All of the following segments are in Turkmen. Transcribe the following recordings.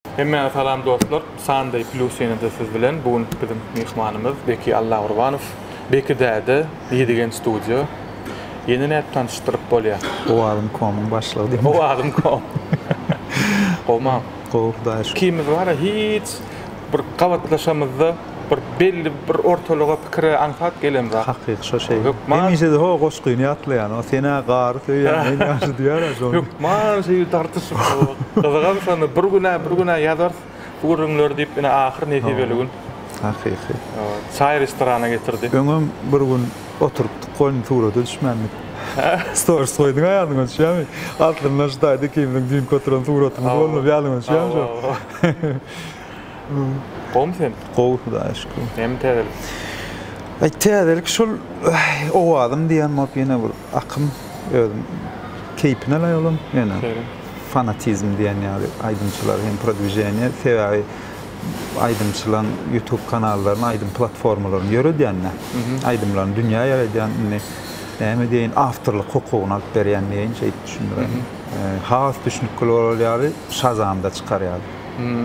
Hemmäňe salam dostlar! Sunday Plus ýene-de siz bilen. Bu günki biziň myhmanymyz Beki Allagurbanow. Beki däde, Ýedigen studio. Ýene nädip tanyşdyryp bolýar? Owazym komyň başlygy diýip. Owazym kom. Gowumaň? Gowy, Hudaýa şükür. Ikimiz wara hiç bir gabatlaşamyzda. bir belli bir ortalyga pikire aňsat gelen zat. Hakyky şo şeý. Hökman. Hemişe-de ho goşgyny ýatlaýan, o sen-ä gary söýýän, men ýagşy diýýär-ä şony. Hökman şeýdip dartyşyp gyzygam şony bir gün-ä bir gün-ä ýazarys bu gürrüňleri diýip ine ahyr nesibeli gün. Hakyky. Çaý restorana getirdi. Öňem bir gün oturypdyk goýny surata düşmändik. Storis goýduň-a ýadyňa düşýärmi? Altyndan şu taýda ikimiziň düýnki oturan suratymyz bolmasa ýadyňa düşýärmi şo? Gowmy sen? Gowy hudaýa şükür. Näme täzelik? Aý täzelik şol owazym diýen bolup ýene bir akym özüm keýpine laýyk olam ýöne fanatizm diýen ýaly aýdymçylar hem prodwiženiýe sebäbi aýdymçylaň ýutub kanallaryny aýdym platformalaryny ýöredýände aýdymlaryny dünýä ýaýradýan indi näme diýeýin awtorlyk hukugyny alyp berýän diýeýin şeýdip düşündiräýin has düşnükli bolar ýaly şazamda çykar ýaly.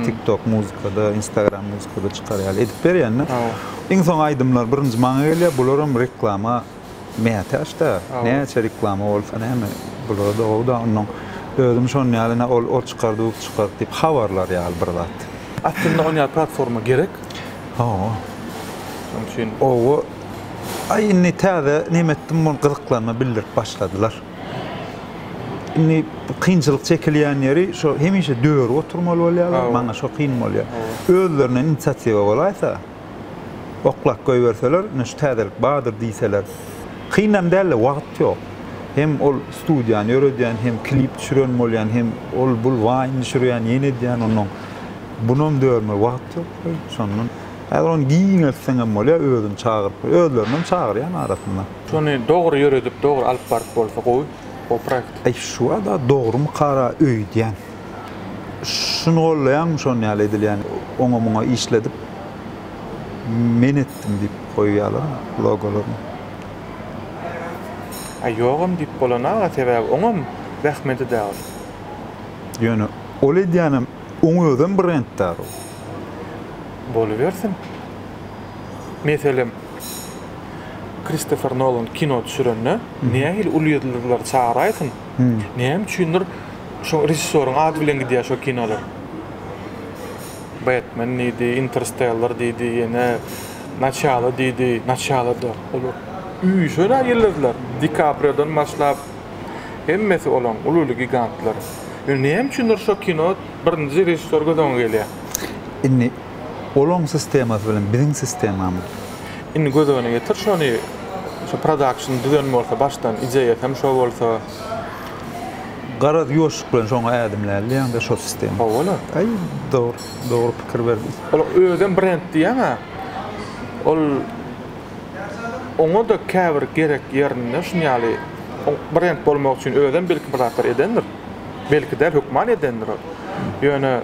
TikTok muzykada, Instagram muzykada çykar ýaly edip berýän-de. Iň soň aýdymlar birinji maňa gelýär. Bularam reklama mätäç-de. Näçe reklama bolsa näme, bularda gowy-da. Onnoň özüm şonuň ýaly ine ol ol çykardy, bu çykardy diýip habarlar ýaly bir zat. Aslynda oňýaly platforma gerek. Hawa. Şonuň üçin. Oba. Aý indi täze näme etdim, muny gyzyklanma bildirip başladylar. Indi kynçylyk çekilýän ýeri, şo hemişe döri oturmaly bolýarlar, maňa şo kyn bolýar. Özlerinden inisiatiwa bolaýsa, oklap goýberseler, ine şu täzelik bardyr diýseler. Kynam däl-de, wagt ýok. Hem ol studiýany ýöredýän, hem klip düşüren bolýan, hem ol-bul waýn düşürýän, ýene edýän, onnoň bunam dörmeli wagt ýok we şondan häzir ony giňeltseňem bolýar, özüni çagyryp, özlerini hem çagyrýan arasynda. Şony dogry ýöredip dogry alyp baryp bolsa gowy o proekt. Aý şuada dogrymy kara öýdýän. Şuny gollaýaňmy şon ýaly edilýän oňa muňa işledip men etdim diýip goýýalar logolaryny. Aý ýogam diýip bolana sebäbi oňam zähmeti dagil. Ýöne ol edýänem Oň özem brenddarrow. Bolubersin. Meselem, Kristofer Nolan kino düşürende nähili uly ýyldyzlary çagyraysyň, näme üçindir şo režissýoryň ady bilen gidýär şo kinolar. Batman diýdi, Interstellar diýdi, ýene Naçalo diýdi, Naçalo-da olar üýşen-ä ýyldyzlar, Di Kapriodan başlap, Hemmesi olaň ululy gigantlar. Indi näme üçindir şo kino birinji režissýor göz öňe gelýär. Indi olaň sistemasy bilen biziň sistemamyz. Indi göz öňüne getir şony şo production düzen bolsa başdan ideýasy hem şo bolsa. Garaz ýuwaşlyk bilen şoňa ädimlälidýäňdä şo sistema. Howala. Aý dogry dogry pikir berdiň. Ol özem brend diýýäňä ol. oňa-da käbir gerek ýerinde şuny ýaly brend bolmak üçin özem belki bir zatlar edendir. Belki däl, hökman edendir ol. Ýöne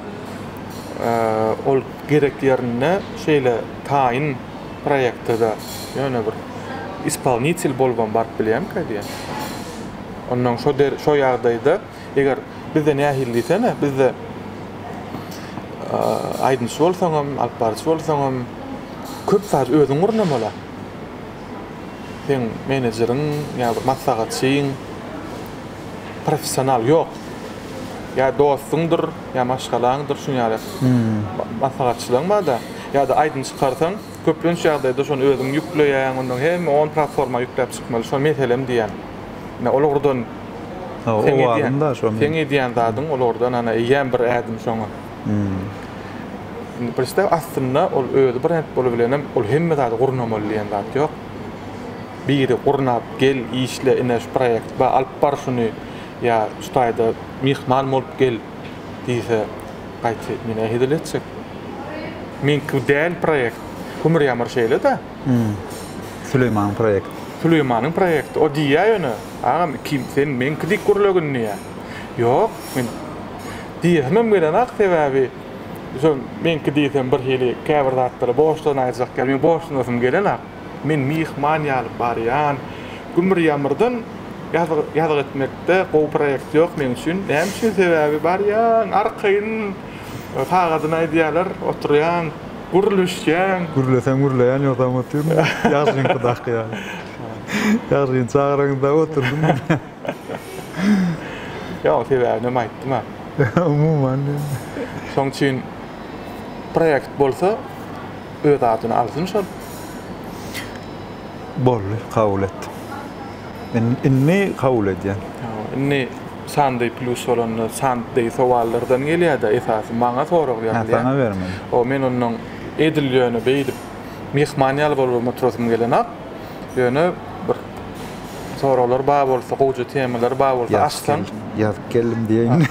ol gerek ýerinde şeýle taýyn proýekte-de ýöne bir ispolnitel bolubam baryp bilýärmikä diýýän. Onnoň şo ýagdaýda Eger bizde nähili diýsene, bizde aýdymçy bolsaňam, alyp baryjy bolsaňam köp zady özüň gurnamaly. Seň menejeriň ýa bir maslahatçyň professional ýok. Ýa dostuňdyr, ýa maşgalaňdyr şuň ýaly maslahatçylaň barda. Ýa-da aýdym çykarsaň, Köplenç ýagdaýda şony özüň ýükleýäň, ondan hemme on platforma ýükläp çykmaly, şo meselem diýýän. Ine olardan seň edýän, seň edýän zadyň olardan ana eýýäm bir ädim şoňa. Indi pristap aslynda ol özi brend bolubilenem ol hemme zady gurnamaly diýen zat ýok. Biri gurnap, gel, işle, ine şu proýekt bar, alyp bar şuny ýa şu taýda myhman bolup gel diýse, Gaýty men ähedil etjek. Meňki bu däl proýekt. Hümür ýamar şeýle-dä. Süleýmanyň proýekti. Süleýmanyň proýekti. O diýýä ýöne, Agam, iki sen meňki dik gürlegin diýýä. Ýok, men diýesimem gelenok, sebäbi şo meňki diýsem birhili käbir zatlara borçlanaýjak ýaly, meň borçlanasym gelenok. Men myhman ýaly barýan. Gümür-ýamyrdan ýazgy etmekde gowy proýekt ýok meň üçin. Näme üçin? Sebäbi barýaň, arkaýyn sagadyny aýdýarlar, oturýaň, gürleşýäň. Gürleseň gürleýän, ýogsam otyryn, ýagşyňkydaky ýaly. Ýagşyny çagyraňyz dagy otursun diýýän. Ýok, sebäbinem aýtdym-a. Umuman diýen. Şoň üçin proýekt bolsa. öz adyny alsyn şol. Boldy, kabul etdim. Men indi kabul edýän. Indi sandy plus bolanda sandy sowallardan gelýär-de esasy maňa sorag ýazylýar. Hä, saňa bermeli. O men ondan edil ýöne beýdip myhman ýaly bolup oturasym gelenok. Ýöne bir soraglar bar bolsa, gowja temalar bar bolsa açsaň. Ýazyp geldim diýeýin.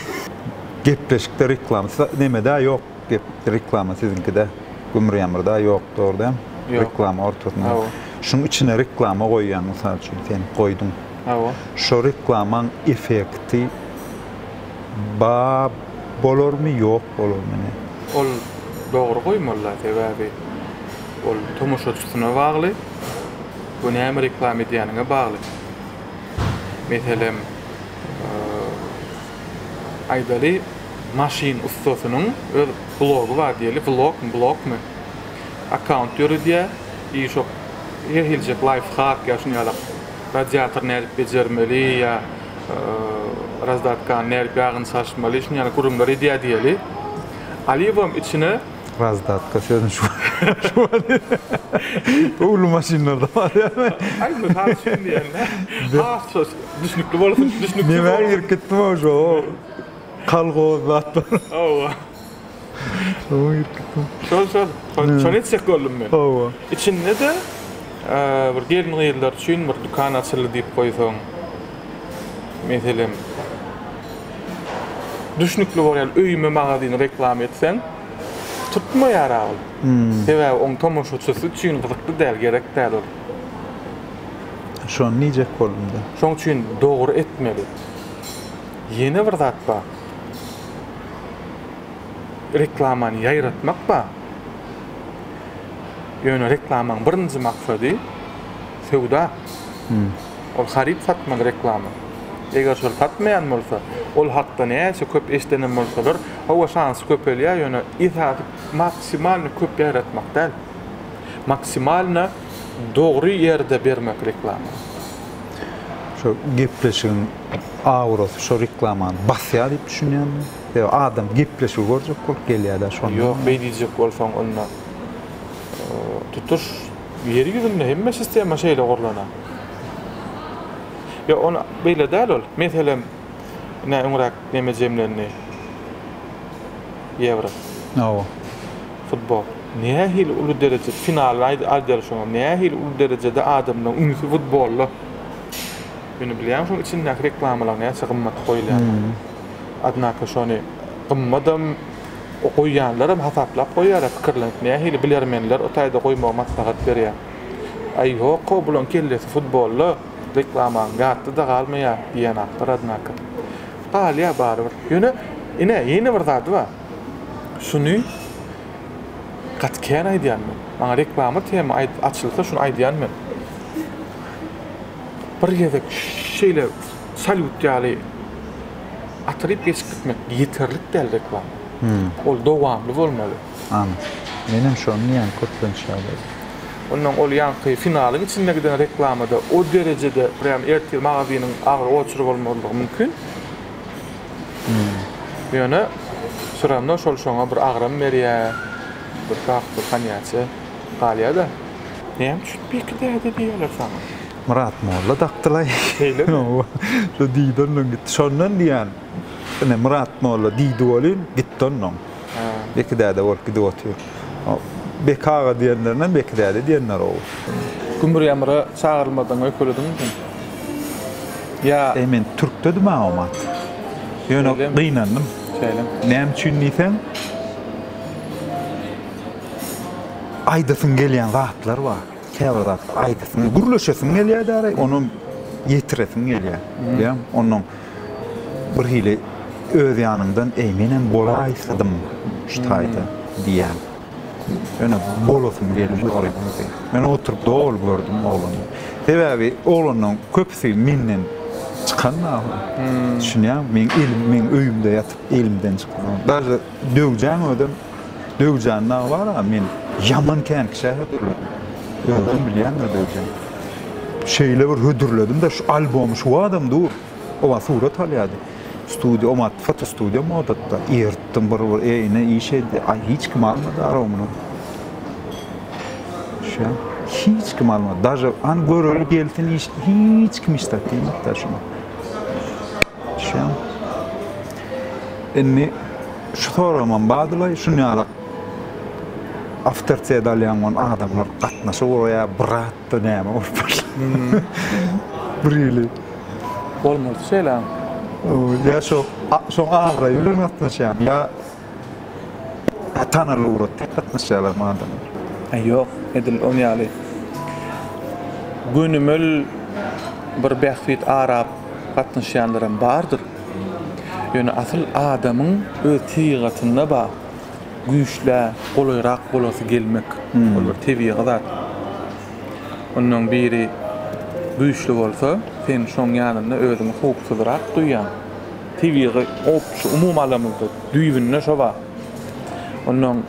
Gepleşikde reklam, neme-de ýok. gep reklama siziňkide gümrýamyrda ýokdur da reklama ortasyna şunuň içine reklama goýýan mysal üçin sen goýduň hawa şo reklamaň effekti ba bolarmy ýok bolarmy ne ol dogry goýmalyda sebäbi ol tomaşaçysyna bagly we näme reklama edýäniňe bagly meselem Aýdaly, maşyn ussasynyň öz blogy bar diýeli, vlogmy, blogmy, akkaunt ýöredýär i şo her hiljek laýfhak ýa şuny ýalak radiatory nädip bejermeli ýa razdatkany nädip ýagyny çalyşmaly şuny ýalak gürrüňler edýär diýeli. Alibom içine. Razdatka sözüni şu wagt öwlü maşynlarda bar ýaly. Aý, mysal üçin diýen-dä. Has. Düşnükli bolsa düşnükli. Nämä girip gitdim-ow şo kolhoz zat bar. Hawa. Şoňa girip gitdim. Şol şol. Şony etjek boldum men. Hawa. Içinde-de bir gelin-gyzlar üçin bir dükan açyldy diýip goýsaň. Meselem, düşnükli bolýan öýüme magazyny reklama etseň, tutmaýar-a ol. Sebäbi oň tomaşaçysy üçin gyzykly däl, gerek däl ol. Şony diýjek boldum-da. Şoň üçin dogry etmeli. Ýene bir zat bar. Reklamany ýaýratmak bar. Ýöne reklamaň birinji maksady söwda. Ol haryt satmaly reklama. Eger şol satmaýan bolsa, ol hakda näçe köp eşidenem bolsalar, hawa, şansy köpelýär, ýöne esasy maksimalny köp ýaýratmak däl. Maksimalno dogry ýerde bermek reklamany. Şo gepleşigiň aurasy şo reklamany basýar diýip düşünýäňmi? Ýa adam gepleşigi görjek bolup gelýärä şonda? Ýok beý diýjek bolsaň onda tutuş ýer ýüzünde hemme sistema şeýle gurlanar. Ýok ony beýle däl ol. Meselem ine öňräk neme jemlendi. Ýewro. Hawa. Futbol. Nähili uly dereje, final aýdylyşyňyz, nähili uly derejede adamlaryň ünsi futbolda. Ýöne bilýäň şoň içindäki reklamalaryň näçe gymmat goýulýandygyny. Odnako şony gymmadam goýýanlaram hasaplap goýýarlar pikirlenip nähili bilermenler o taýda goýmagy maslahat berýär. Aý ýok-ow bulaň kellesi futbolda, reklamaň ýatda-da galmaýar diýýän akdyr odnako. Galýar barybir. Ýöne ine ýene bir zady bar. Şuny gaty kän aýdýan men. Maňa reklama tema aýdyp açylsa şuny aýdýan men. Bir gezek şeýle salýut ýaly atylyp geçip gitmek ýeterlik däl reklama. Ol dowamly bolmaly. Anyk. Menem şony diýýän köplenç ýagdaýda. Ondan ol ýaňky finalyň içinde giden reklamada o derejede prýam ertir magazynyň agyr oçury bolmazlygy mümkin. Ýöne süremde şol şoňa bir agram berýä, bir sap bir konýaçe galýa-da. Näme üçin Beki däde diýýäler saňa? Myrat molla dakdylaý. Şeýlemi? Hawa. Şo diýdi onnoň gitdi. Şondan diýýän. Ine, Myrat molla diýdi welin, gitdi onnoň. Beki däde bolup gidip otyr. Beki aga diýenlerinden Beki däde diýenler-ow. Gümür ýamyra çagyrylmadan öýkelediňmi sen? Ýa. Eý, men türkdedim-ä omat. Ýöne gynandym. Şeýlemi? Näme üçin diýseň, aýdasyň gelýän zatlar bar. Käbir zatlar aýdasyň, gürleşesiň gelýär-dä, onam ýetiresiň gelýär. Bilýäňmi? Ondan bir hili öz ýanyňdan, Eý, menem bolaýsadym şu taýda diýýän. Ýöne bolasym gelmedi ol wagty. Men oturyp doly gördüm oglany. Sebäbi oglanlaryň köpüsi menden çykan ahyry. Düşünýäňmi? Meň elim meň öýümde ýatyp elimden çykan. Daža Döwjäň özem Döwjäň dagy bar-a, men ýaman känkiş-ä hödürläň. Özüňem bilýäň-dä Döwjäň. Şeýle bir hödürledim-de, şu albomy şu badam dur. Oba surat alýardy. Studiýa, omat, fotostudiýam odatda. Eritdim bir-bir, eýne iş edýär. Aý, hiç kim almady arogny. Şa, hiç kim almady. Daže, an göreli gelsin iş, hiç kim işdäki diýmedi-de şuny. Düşýäňmi? Indi şu soragymam badylaý, şunýalak awtoritet alýan bolan adamlar gatnaşyk guraýa, brat-da näme bolup başlar. Bir hili. Bolmalydy şeýle. Ýa şo, şoň abraýy bilen gatnaşýarmy ýa. Ata-analar ugratda gatnaşýarlarmy adamlar? Ýok, edil ol ýaly gönümel bir bähbit arap gatnaşýanlaram bardyr. Ýöne asyl adamyň öz tebigatynda bar, güýçlä golaýrak bolasy gelmek. Ol bir tebigy zat. Onnoň biri güýçli bolsa, sen şoň ýanynda özüňi howpsuzrak duýýaň. Tebigy goh şu umumy alamyzda düýbünde şo bar. Ondan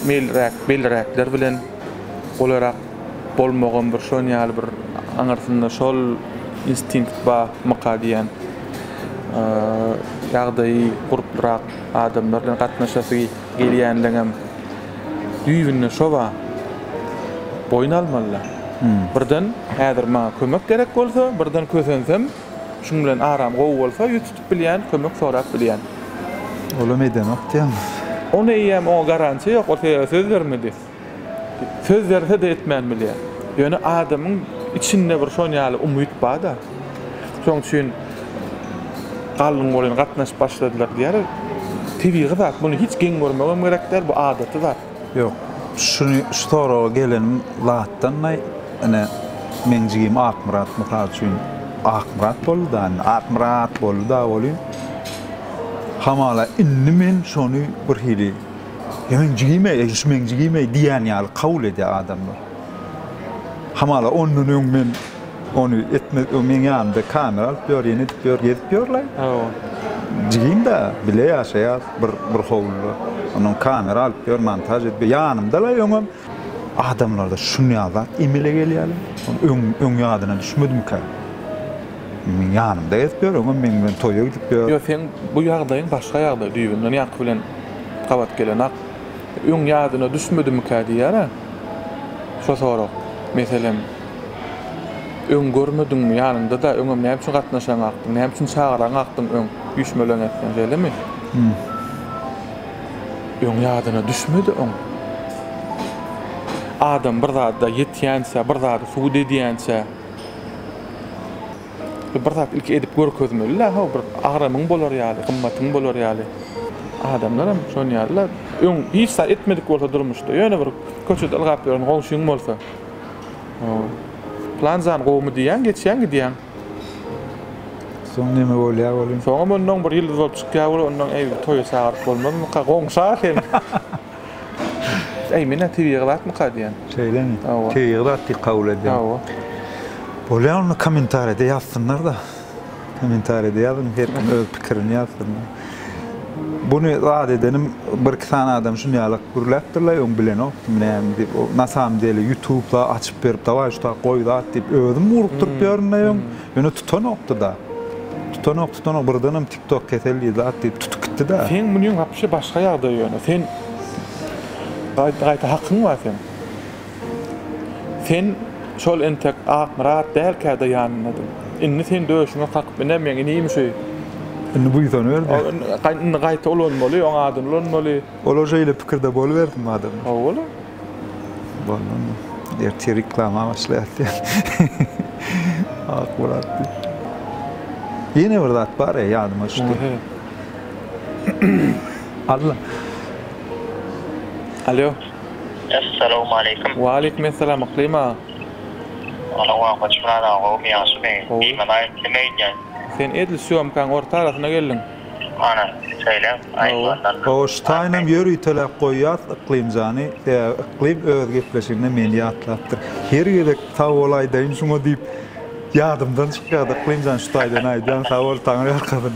meýilräk, belräkler bilen golarak bolmagam bir şon ýaly bir aňyrsynda şol instinkt barmyka diýýän. Ýagdaýy gurplyrak adamlar bilen gatnaşasy gelýänligem düýbünde şo bar. Boýun almaly-da. Birden häzir maňa kömek gerek bolsa, birden kösensem, Şuň bilen aram gowy bolsa, ýüz tutup bilýän, kömek sorap bilýän. Olam edenok diýýäňiz. Ony eýýäm oňa garantiýa ýok, ol sebäbi söz bermedi. Söz berse-de etmän bilýär. Ýöne adamyň içinde bir şon ýaly umyt bar-da. Şoň üçin Gallyň goly gatnaşyp başladylar diýýärler. Tebigy zat, muny hiç geň görmegem gerek däl, bu adaty zat. Ýok, şuny şu soraga gelen zatdan-da ine, meň jigim Akmyrat mysal üçin Akmyrat boldy-da indi, Akmyrat boldy-da welin, hamala indi men şony bir hili, Eý, meň jigim-eý, eý, şu meň jigim-eý diýen ýaly kabul edýär adamlar. Hamala ondan öň men. Ony etme o meň ýanymda kamera alyp ýör ýene edip ýör gezip ýör la. Jigim da bile ýaşaýas bir bir howluda. Onuň kamera alyp ýör montaž edip ýanymda la öňem. Adamlarda şunýa zat emele gelýä la. Öň öň ýadyna düşmedimikä. Meň ýanymda gezip ýör öňem meň bilen toýa gidip ýör. Ýok seň bu ýagdaýyň başga ýagdaý düýbünden ýaňky bilen gabat gelenok. Öň ýadyna düşmedimikä diýýär a şo sorag. Meselem. Öň görmediňmi? Ýanyňda-da, öňem näme üçin gatnaşaň akdyň? Näme üçin çagyraň akdyň öň? Üýşmeleň etseň, şeýlemi? Öň ýadyna düşmedi, öň. Adam bir zada ýetýänçä, bir zady subut edýänçä, bir zat ilki edip görkezmeli-dä, haw, bir agramyň bolar ýaly, gymmatyň bolar ýaly. Adamlaram şon ýaly-la. Öň hiç zat etmedik bolsa durmuşda, ýöne bir köçede ylgap ýören goňşyň bolsa. Plan jan gowumy diýýäň, geçýäň gidýäň. Soň neme bolýar welin? Soňam onnoň bir ýyldyz bolup çykýar weli, onnoň eý, toýa çagyryp bolmazmyka, goňşa seni. Eý, men-ä tebigy zatmyka diýýän. Şeýlemi? Hawa. Tebigy zat diýip kabul edýäň. Hawa. Bolýar onda kommentariýada ýazsynlar-da. Kommentariýada ýazyň her kim öz pikirini ýazsyn. Buny zat edenim bir iki sany adam şunýalak gürläpdirlaý öň bilenokdym näme diýip o nasamdeli ýutub zat açyp berip dawaý şu tak goý zat diýip özüm ugrukdyryp ýörünlaý öň ýöne tutanokdyda tutanok tutanok birdenem tik tok kesel diýip zat diýip tutup gitdida. Seň munyň wapşe başga ýagdaý ýöne sen gaýta gaýta hakyň bar seň. Sen şol entek Akmyrat dälkä-de ýanyndadyň. Indi sen döşüňe kakyp iner meň inim şu. Indi buýsanyber diýip. Ol indi gaýta ulanmaly, oň adyny ulanmaly. Olar şeýle pikirde bolubersin madem. Hawa bolar. Bolmazmy? Ertir reklama başlaýas diýer. Akmyrat diýip. Ýene bir zat bar-eý, ýadyma düşdi. Alla. Alýo. Essalawmaleýkim. Waleýkim essalam Yklym aga. Ana wakaç Myrat aga gowumy ýagşymy? Gowy. Beýmalaýyk nime eýdýäň? Sen edil sýomkaň orta arasyna geldiň. Ana, söýläň, aýdybandam. Gowy şu taýynam ýör üýteläp goýýas Yklym jany, sebäbi Yklym öz gepleşiginde meni ýatlapdyr. Her gezek sag bol aýdaýyn şuňa diýip ýadymdan çykýardy Yklym jan şu taýdan aýdýaň sag bol Taňyrýalkasyn.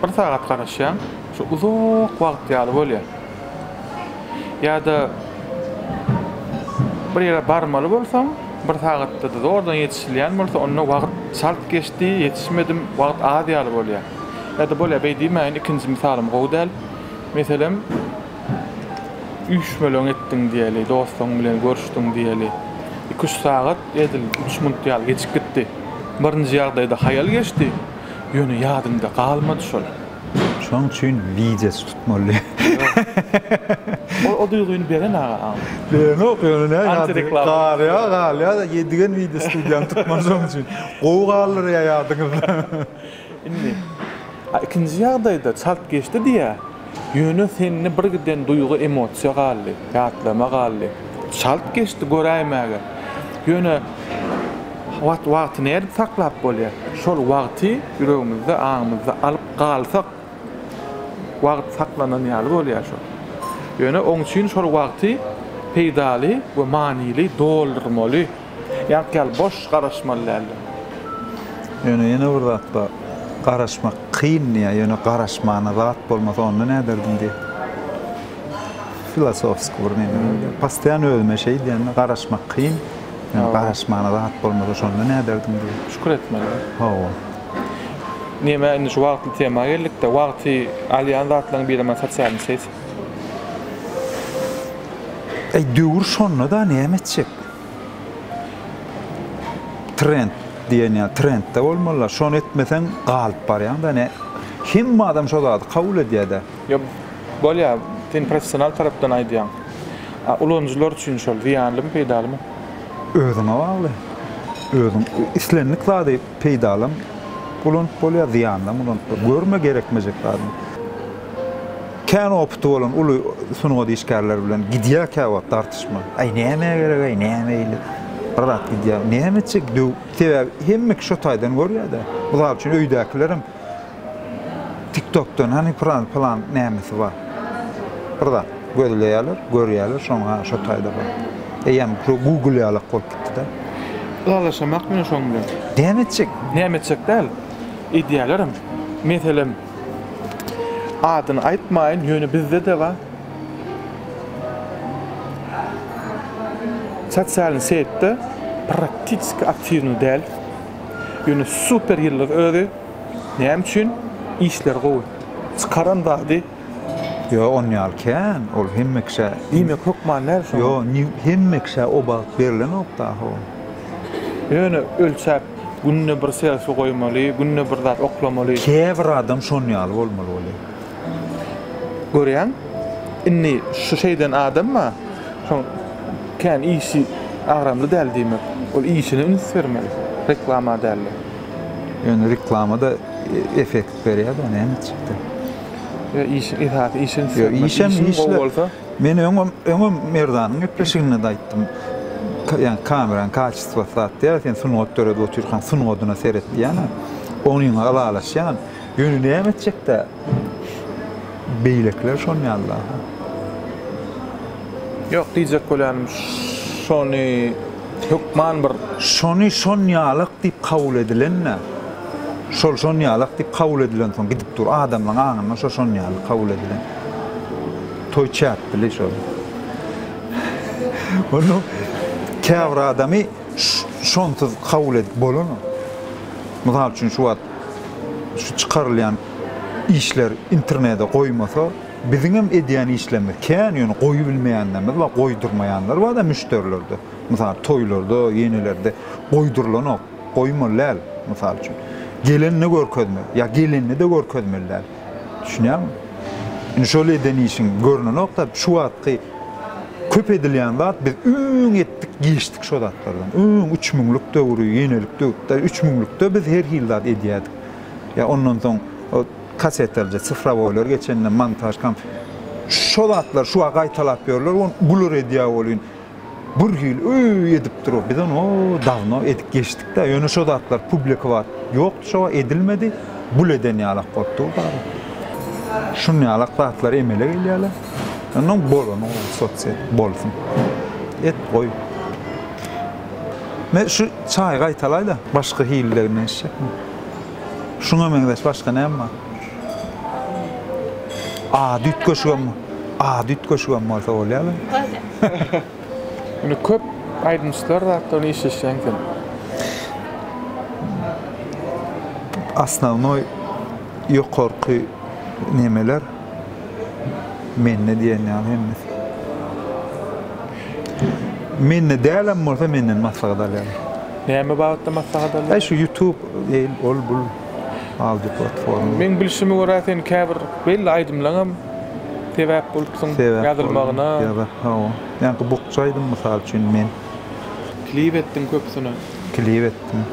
Bir sagat garaşýaň, şu uzak wagt ýaly bolýar. Ýa-da bir ýere barmaly bolsaň, bir sagatda-da zordan ýetişilýän bolsa, onda wagt çalt geçdi, ýetişmedim, wagt az ýaly bolýar. Ýa-da bolýar, beý diýmäýin, ikinji mysalym gowy däl. Meselem, üýşmeleň etdiň diýeli, dostuň bilen görüşdiň diýeli. Iki-üç sagat edil üç minut ýaly geçip gitdi. Birinji ýagdaýda haýal geçdi. Ýöne ýadymda galmady şol. Şoň üçin widesi tutmaly. Ol o duýgyny beren aga aň. Berenok ýöne näme ýa Antireklama. galýa galýa ýedigen wideo studiýany tutmaly şoň üçin. Gowy galdyrýa ýadyňyzda. Indi. A ikinji ýagdaýda çalt geçdi diýýä. Ýöne sende birgiden duýgy-emosiýa galdy, ýatlama galdy. Çalt geçdi göräýmäge. Ýöne wagt wagty nädip saklap bolýar? Şol wagty ýüregimizde, aňymyzda alyp galsak, wagt saklanan ýaly bolýar şol. Ýöne oň üçin şol wagty peýdaly we manyly doldurmaly. Ýaňky ýaly boş garaşmaly däldir. Ýöne ýene bir zat bar. Garaşmak kyn diýýär, ýöne garaşmana zat bolmasa onda näderdim diýýär. Filosofskiý bir neme bolýar. Postoýan özüme şeý diýýän-de, garaşmak kyn, ýöne garaşmana zat bolmasa şonda näderdim diýýär. Şükür etmeli. Hawa. Neme indi şu wagtly tema geldik-de, wagty alýan zatlaryň birem-ä sosialny set. Eý döwür şonda-da näme etjek? Trend diýen ýa trendde bolmalylar. Şony etmeseň galyp barýaňda. Ne hemme adam şo zady kabul edýädä. Ýok, bolýar. Sen professional tarapdan aýdýaň. A ulanyjylar üçin şol zyýanlymy, peýdalymy? Özüňe bagly. Özüň islendik zady peýdalam ulanyp bolýar, zyýanlam ulanyp bolýar. Görme gerekmejek zadyňy. Kän opity bolan uly sungat işgärleri bilen gidýär käwagt dartyşma. Aý nämä gerek-aý, näme ýyly bir zat gidýär. Näme etjek döw. Sebäbi hemme kişi şo taýdan görýär-dä. Mysal üçin öýdäkilerem TikTokdan hany pylan pylan nämesi bar. Bir zat gözleýärler, görýärler şoňa ha şo taýda bar. Eýýäm şo Google ýalak bolup gitdi-dä. Ylalaşamak bilen şoň bilen. Näme etjek? Näme etjek däl. Edýärlerem. Meselem. Adyny aýtmaýyn, ýöne bizde-de bar. Sosial setde praktisik aktiwny däl. Ýöne super ýyldyz özi. Näme üçin? Işleri gowy. Çykaran zady. Ýok, on ýaly kän. Ol hemme kişä. Diýmek hökman däl şoňa. Ýok, hemme kişä o bagt berilenok daho. Ýöne ölçäp, günde bir selfi goýmaly, günde bir zat oklamaly. Käbir adam şon ýaly bolmaly bolýar. Görýäň, indi şu şeýden adamma şoň kän işi agramly däl diýmek. Ol işine üns bermeli, reklama däl-de. Ýöne reklama-da effekt berýär-dä, näme etjek-dä? Ýa işiň esasy işe üns bermeli. Işiň gowy bolsa. Men öňem, öňem Merdanyň gepleşiginde-de aýtdym. Ýa kamerany kaçistwasy zat däl, sen sungat döredip otyrkaň sungadyna seret diýýän-ä. Onyňa ylalaşýan. Ýöne näme etjek-dä? Beýlekiler şon ýaly-da. Ýok, diýjek bolýanym, şony hökman bir. Şony şon ýalak diýip kabul edilen-dä. Şol şon ýalak diýip kabul edilensoň gidip dur. Adamlaryň aňynda şo şon ýaly kabul edilen. Toý çäkdili şol. Ony käbir adamy şonsuz kabul edip bolanok. Mysal üçin şu wagt şu çykarylýan işler internede goýmasa, biziňem edýän işlerimiz kän, ýöne goýubilmeýänlerimiz bar, goýdurmaýanlar bar-da müşderilerde. Mysal toýlarda, ýenelerde goýdurylanok, goýmaly däl, mysal üçin. Gelende görkezmek, ýa gelende-de görkezmeli däl. Düşünýäňmi? Indi şol eden işiň görnenokda, şu wagtky köp edilýän zat biz öň etdik, geçdik şo zatlardan. Öň üç müňlük döwri, ýenelik döwürde, üç müňlükde biz her hili zat edýärdik. Ýa ondan soň kasetalja, sifrowoýlar geçende montaž komp. Şo zatlar şu wagt gaýtalap ýörler, ony bular edýär welin, bir hili öý edip dur biz ony dawno edip geçdikdä ýöne şo zatlar publikować ýokdy şo wagt edilmedi bul eden ýalak bolup dur bary şun ýalak zatlar emele gelýärler onnoň bolany sosiet bolsun et goý me şu çaýy gaýtalaýda başga hilde nätjekmi şuňa meňzeş başga näme bar. A düýt köşgem, A düýt köşgem bolsa bolýarmy? Indi köp aýdymçylar zatda işleşýäň sen. Osnownoý ýokarky nemeler mende diýen ýaly hemmesi. Mende dälem bolsa menden maslahat alýarlar. Näme babatda maslahat alýarlar? Şu ýutub, ol bul. Audio platforma. Meň bilşime görä sen käbir belli aýdymlaňam sebäp bolupsyň ýazylmagyna. Sebäp boldum ýa-da hawa. Ýaňky bukja aýdym mysal üçin men. Klip etdiň köpüsine. Klip etdim.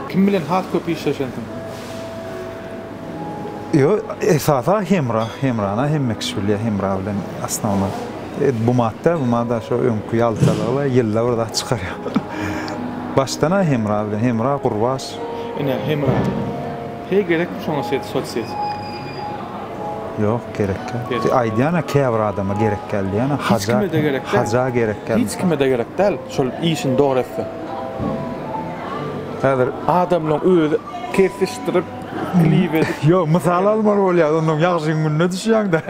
Kim bilen has köp işleşensiň? Ýo esasa Hemra, Hemrana hemme kişi bilýä Hemra bilen asnowno. Bu mat däl, bu mada şo öňki ýaltalygyla ýylda bir zat çykarýa. Başdan-a Hemra bilen, Hemra, Gurbaş, Ine, Hemra. Heý, gerekmi şoňa set, sotseti? Ýok, gerek däl. Gerek däl. Aýdýan-a, käbir adama gerek däl diýýän-a, Hiç haja, kime-de gerek däl. haja gerek däl. Hiç kime-de gerek däl, şol işini dogry etse. Häzir. Adamlaryň özi kesişdirip, klip edip. Ýok, mysal almaly bolýar, onnoň ýagşyň gününe düşýäň-dä.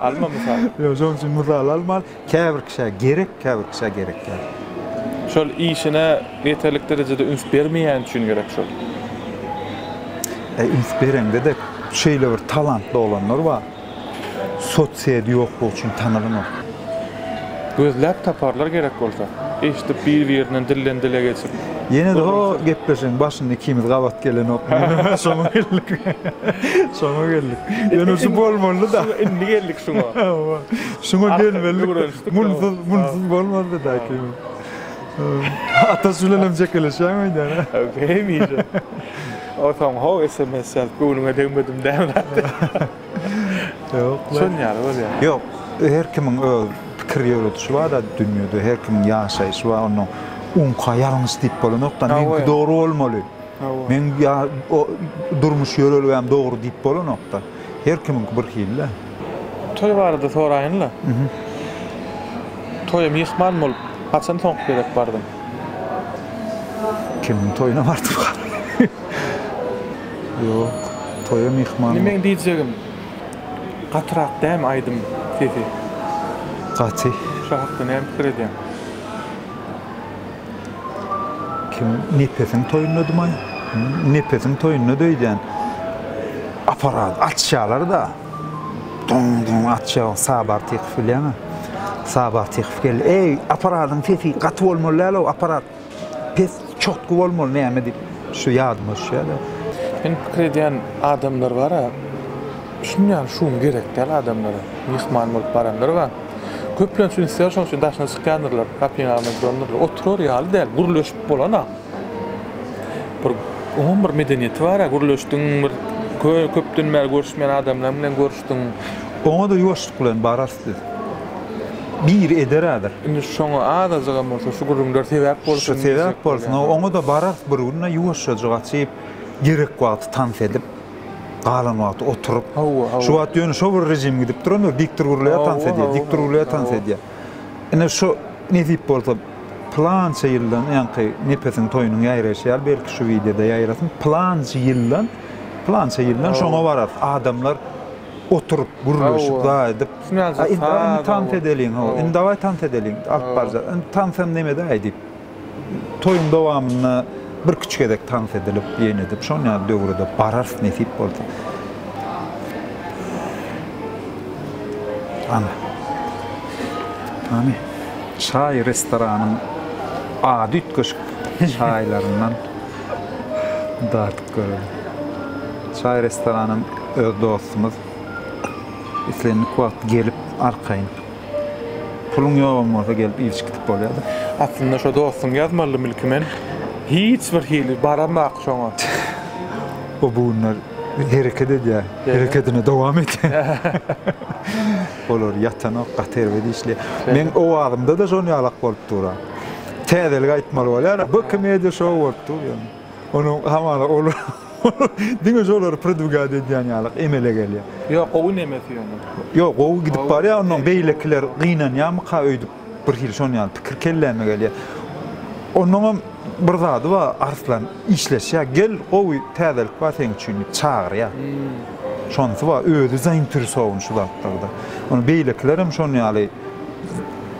Alma mysal. Ýok, şonuň üçin mysal almaly. Käbir kişä gerek, käbir kişä gerek däl. Şol işine ýeterlik derejede üns bermeýäni üçin gerek şol. E üns bereňde-de şeýle bir talantly oglanlar bar. Sotsyýedi ýoklugy üçin tanalanok. Gözläp taparlar gerek bolsa. Eşdip bir-birinden dilden dile geçip. Ýene-de ho gepleşigiň başynda ikimiz gabat gelenok. Şoňa geldik. Şoňa geldik. Ýöne şu bolmalydy-da. Indi geldik şoňa. Hawa. Şuňa gelmelidik. Munsyz, munsyz bolmazdy daýky. Ataş bilenem çekeleşýäň öýdäne. Hemişe. Otaň ho sms ýazyp göwnüňe degmedim däme. Ýok. Şon ýaly bolýar. Ýok, her kimiň öz pikir ýöredişi bar-da dünýede, her kimiň ýaşaýşy bar, onda uňka ýalňyş diýip bolanok-da, meňki dogry bolmaly, meň durmuş ýörelgäm dogry diýip bolanok-da. Her kimiňki bir hil-le. Toý barada soraýyn-la. Toýa myhman bolup, haçan soňky gezek bardyň? Kimiň toýuna bardym hany? Ýok, toýa myhman Indi meň diýjegim, gatyrak dämi aýdym sesi? Gaty. Şo hakda näme pikir edýäň? Kim Nepesiň toýundadymaý? Nepesiň toýunda döýdýän. Aparat atýalar-da. Doň-doň atýa. Sabar Tykow bilýäňä. Sabar Tykow geldi. Eý, aparadyň sesi gaty bolmaly däl-ow, aparat. Pes, çotky bolmaly näme diýip, şu ýadyma düşýär-de. Indi pikir edýän adamlar bar-a. Düşünýän şugum gerek däl adamlara. Myhman bolup baranlar bar. Köplenç ünsleri şonuň üçin daşyna çykýandyrlar, gapyny ýabyp durandyrlar. Oturar ýaly däl, gürleşip bolan-a. Bir oňam bir medeniýeti bar-a, gürleşdiň bir köpden bäri görüşmeýän adamlar bilen görüşdiň. Oňa-da ýuwaşlyk bilen bararys biz. Biri eder häzir. Indi şoňa azajygam bolsa şu gürrüňler sebäp bolsun diýjek bolýan. Sebäp bolsun, oňa-da bararys bir gün-de ýuwaşjajyk açyp, gerek wagty tans edip. galan wagty oturyp, şu wagt ýöne şo bir režim gidip durandyr, dikdir gürleýär, tans edýär, dikdir gürleýär, tans edýär. Ine, şu nesip bolsa, pylança ýyldan, ýaňky Nepesiň toýunyň ýaýraýşy ýaly, belki, şu wideoda ýaýrasyn, pylança ýyldan, pylança ýyldan şoňa bararys, adamlar oturyp, gürleşip, zaý edip, Aý, indi, daý, indi tans edeliň, hawa, indi, dawaý, tans edeliň, alyp barjak, indi tans hem neme-däý diýip. Toýuň dowamynda birküç gezek tans edilip, ýene edip, şon ýaly döwre-de bararys, nesip bolsa. Ana. Hany, çaý restoranyň ady üýtgeşik çaýlaryndan dadyp görelim. Çaý restoranam öz dostumyz. Islendik wagt gelip, arkaýyn. Puluň ýogam bolsa gelip ilçi gitip bolýada. Aslynda şo dostuň ýazmalydy milki men hiç bir hili baramok şoňa. O bu günler hereket edýä. Herekedine dowam edýä. Olar ýatanok gaty erbet işleýä. Meň owazymda-da şon ýalak bolup dur-a. Täzelik aýtmaly bolýar-a. Bkmedia show bolup dur ýöne. Onuň hamala ol diňe şolary pridwigad edýän ýalyk emele gelýär. Ýok, gowy nemesi ýöne. Ýok, gowy gidip barýar, ondan beýlekiler gynanýarmyka öýdüp birhili şon ýaly pikir kelläme gelýär. Onuňam bir zady bar, Arslan işleşýär, gel, gowy täzelik bar seň üçin diýip çagyrýar. Şonsy bar, özi zainteresowany şu zatlarda. Ony beýlekilerem şon ýaly.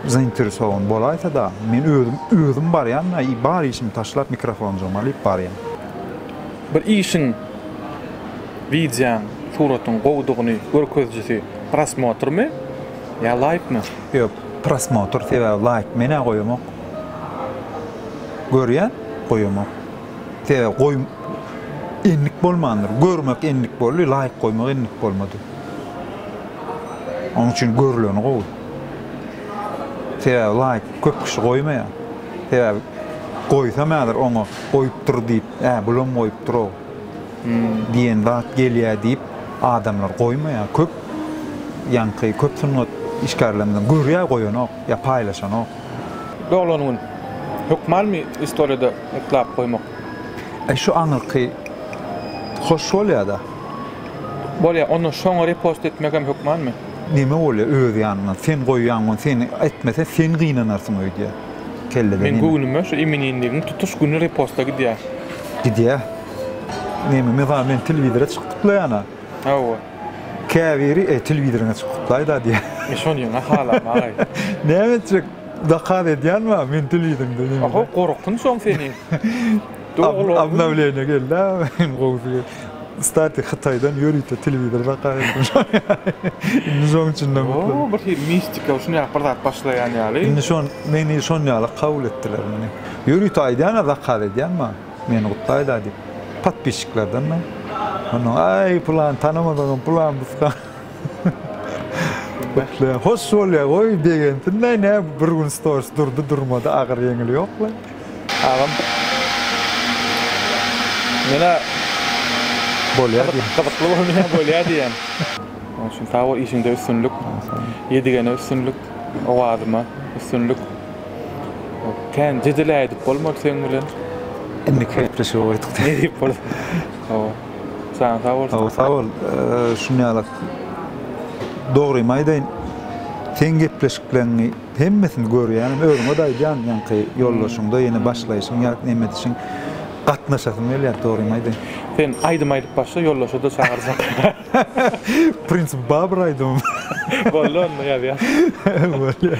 Zainteresowan bolaýsa-da, men özüm, özüm barýan-da, bar işimi taşlap, mikrofonjygymy alyp barýan. Bir işiň, wideoň, suratyň gowudygyny görkezijisi prosmotrmy ýa laýkmy? Ýok, prosmotr, sebäbi laýk men-ä goýamok. Görýän, goýamok. Sebäbi goý endik bolmandyr. Görmek endik boldy, laýyk goýmak endik bolmady. Onuň üçin görüleni gowy. Sebäbi laýyk köp kişi goýmaýar. Sebäbi goýsam häzir oňa goýupdyr diýip, Äý, bulam goýupdyr-ow diýen zat gelýär diýip, adamlar goýmaýar. Köp ýaňky köp sungat işgärlerinden görýär goýanok. Ýa paýlaşanok. Doglan gün hökmalmi istoriýada ýyklap goýmak. Eý şu aňyrky hoş bolýada. Bolýa onda şoňa repost etmegem hökmanmy. Neme bolýa öz ýanyňdan sen goýýan gün sen etmese sen gynanarsyň öýdýä kellede neme. Meň göwnüme şu imininligiň tutuş güni reposta gidýä. Gidýä. Neme mysal men telewizora çykyp gutlaýana. Hawa. Käbiri e telewizorňa çyk gutlaýda diýýär. Men şony ýene halam agaý. Näme etjek zakaz edýänba men telewizoryňda ýene. Oho gorkunç oň seni. Obnowleniýa geldi a iň gowusy. Stati hytaýdan ýörite telewizor zakaz etdim indi şoň üçinem mutlu. O bir hili mistika şuny ýaly bir zat başlaýan ýaly. Indi şon meni şon ýaly kabul etdiler meni. Ýörite aýdýan a zakaz edýän ba. Meni gutlaýda diýip podpisçiklerdenmi? Ondan aý pylan tanamadygym pylan buska. Gutlaýan hoş bolýa goý begensinda ine bir gün storis durdy durmady agyr ýeňil ýokla. Agam Menä bolýa diýen. Gyzykly bolýa bolýa diýen. Oň üçin sag bol işiňde üstünlik. Ýedigene üstünlik owazyma üstünlik. Kän jedel ädip bolmady seň bilen. Indi gepleşige goýduk. Ne diýip bol. Hawa. Janyň sag bolsun. Hawa, sag bol. Şun ýalak. Dogrymy aýdaýyn, seň gepleşikleriňi hemmesini görýärin. Özüňe-de aýdýan ýaňky ýoldaşyňda ýene başlaýşyň ýa näme edişiň. Gatnaşasym gelýär, dogrymy aýdaýyn. Sen aýdym aýdyp başla, ýoldaşy-da çagyrjak. Prinsipi bar bir aýdymym. Boldy onda ýazýas. Bolýar.